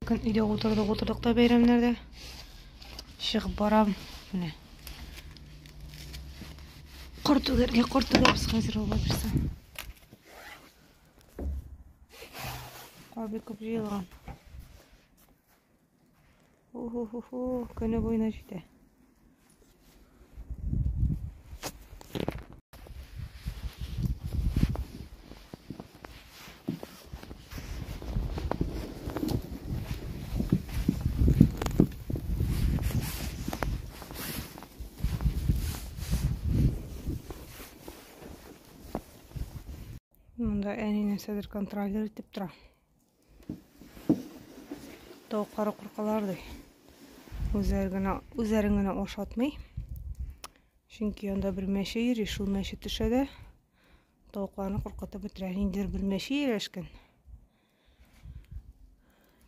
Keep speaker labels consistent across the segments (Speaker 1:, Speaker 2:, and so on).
Speaker 1: Көн өйдә утырдык, утырдык та бәйрәмнәрдә. Чыгып барам. Менә. Кар түгәргә, кар түгәбез хәзер алла бирсә. Кар бик күп җыелган. Уху-ху-ху, көне буена җитә. Монда әни нәрсәдер контролер итеп тора. Тавыклары куркалар ди. Үзләре генә үзләрен генә ашатмый. Чөнки анда бер мәче йөри, шул мәче төшә дә тавыкларны куркытып бетерә. Инде бер мәче ияләшкән.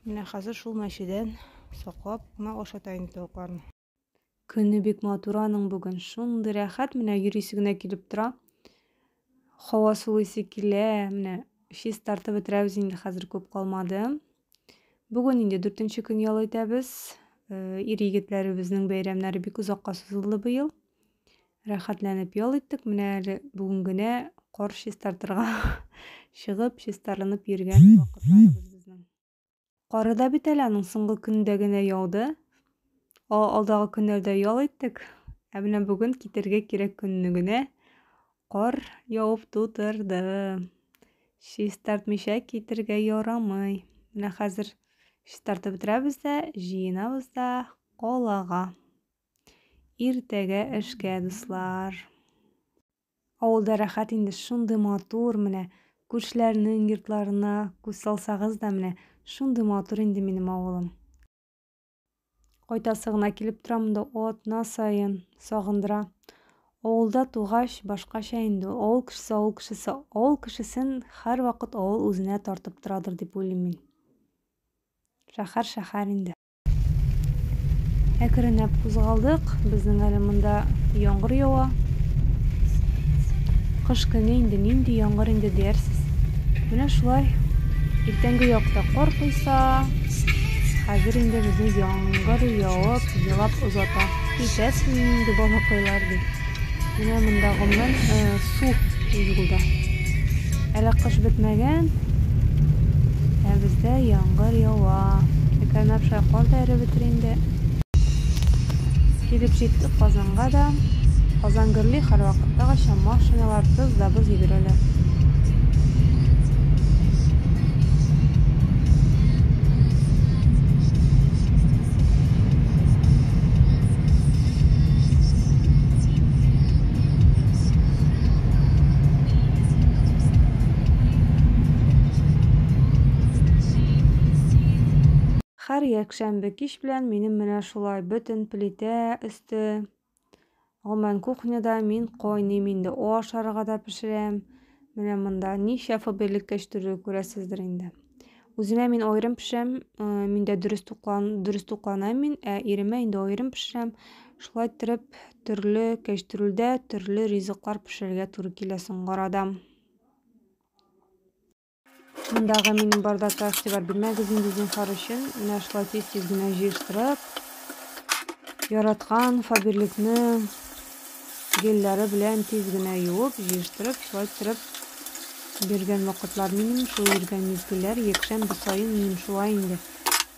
Speaker 1: Менә хәзер шул мәчедән саклап кына ашата инде тавыкларны. Көне бик матур аның бүген. Шундый рәхәт, менә йөрисе генә килеп тора. Һава сулыйсы килә, менә чист тартып бетерәбез инде хәзер күп калмады. Бүген инде дүртенче көн ял итәбез. Э, ир егетләребезнең бәйрәмнәре бик озакка сузылды быел. Рәхәтләнеп ял иттек. Менә әле бүген генә кар чистартырга чыгып, чистарынып йөргән вакытларыбыз безнең. Кары да бит әле аның соңгы көндә генә яуды. Алдагы көннәрдә ял иттек. Ә менә бүген китергә кирәк көнне генә кар явып тутырды. Чистартмыйча китергә ярамый. Менә хәзер чистартып бетерәбез дә, җыенабыз да калага. Иртәгә эшкә, дуслар. Авылда рәхәт инде, шундый матур, менә күршеләрнең йортларына күз салсагыз да, менә шундый матур инде минем авылым. Кайтасы гына килеп тора монда атна саен, сагындыра. Авылда тугач, башкача инде ул. Авыл кешесе, авыл кешесе, авыл кешесен һәрвакыт авыл үзенә тартып торадыр дип уйлыйм мин. Шәһәр, шәһәр инде. Әкренләп кузгалдык. Безнең әле монда яңгыр ява. Кыш көне инде нинди яңгыр инде диярсез. Менә шулай. Иртәнге якта кар койса, хәзер инде безне яңгыр явып, елап озата. Китәсезме инде балакайлар дип. Менә монда гомумән су юлда. Әле кыш бетмәгән, ә бездә яңгыр ява. Эконапша кар да эреп бетер инде. Килеп җиттек Казанга да. Казан гөрли һәрвакыттагыча, машиналар тыз да боз йөгерәләр. Хәр якшәмбе кич белән минем менә шулай бөтен плитә өсте Гомумән кухняда мин кайныйм инде, ашарга да пешерәм. Менә монда ничә фобия элеккәч төрле күрәсездер инде. Үземә мин аерым пешерәм, мин дә дөрес туклан, дөрес тукланам мин, ә иремә инде аерым пешерәм. Шулай иттереп төрле кәчтүрүлдә төрле ризыклар пешерергә туры килә соңгы арада. Мондагы минем бардакка игътибар бирмәгез инде зинһар өчен. Менә шулай тиз-тиз генә җыештырып, яраткан фаберликны гелләре белән тиз генә юып, җыештырып, шулай төреп биргән вакытлар минем шул йөргән мизгелләр якшәмбе саен минем шулай инде.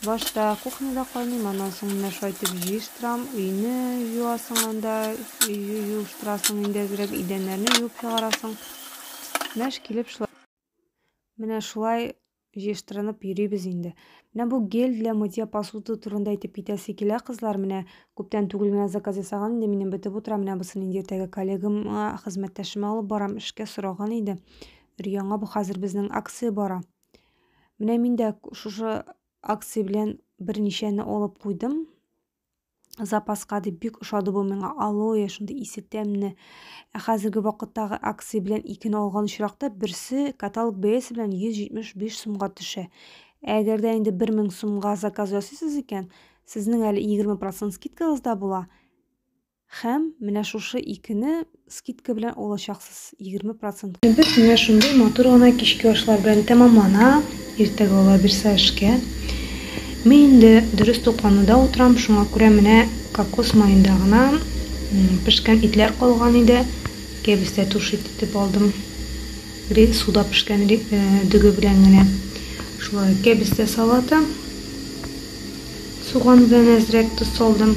Speaker 1: Башта кухняда кайныйм, аннан соң менә шулай итеп җыештырам, өйне юасың анда, юыштырасың инде әзрәк, идәннәрне юып чыгарасың. Мәш килеп шулай Менә шулай җыештырынып йөрибез инде. Менә бу гель для мытья посуды турында әйтеп китәсе килә, кызлар. Менә күптән түгел генә заказ ясаган инде, минем бетеп утыра. Менә бусын инде иртәгә коллегама, хезмәттәшемә алып барам, эшкә сораган иде. Өр-яңа бу хәзер безнең акция бара. Менә мин дә шушы акция белән берничәне алып куйдым. запаска дип бик ошады бу миңа алоэ шундый исе тәмне ә хәзерге вакыттагы акция белән икене алган очракта берсе каталог бәясе белән 175 сумга төшә әгәр дә инде 1000 сумга заказ ясыйсыз икән сезнең әле 20 процент скидкагыз да була Хәм менә шушы икене скидка белән алачаксыз, 20 процент. Без менә шундый матур гына кичке ашлар белән тәмамлана. Иртәгә ала бирсә эшкә. Мин инде дөрес туклануда утырам, шуңа күрә менә кокос маенда гына пешкән итләр калган иде. Кәбестә туши тетеп алдым. Ри суда пешкән ри, э, дөге белән генә. Шулай кәбестә салаты. Суган белән әзрәк тоз салдым.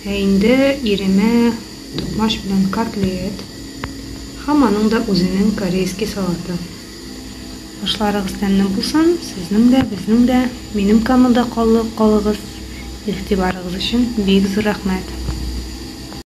Speaker 1: Ә инде иремә токмач белән котлет һәм аның да үзенең корейский салаты. Ашларыгыз тәмле булсын, сезнең дә, безнең дә, минем каналда калыгыз. Игътибарыгыз өчен бик зур рәхмәт.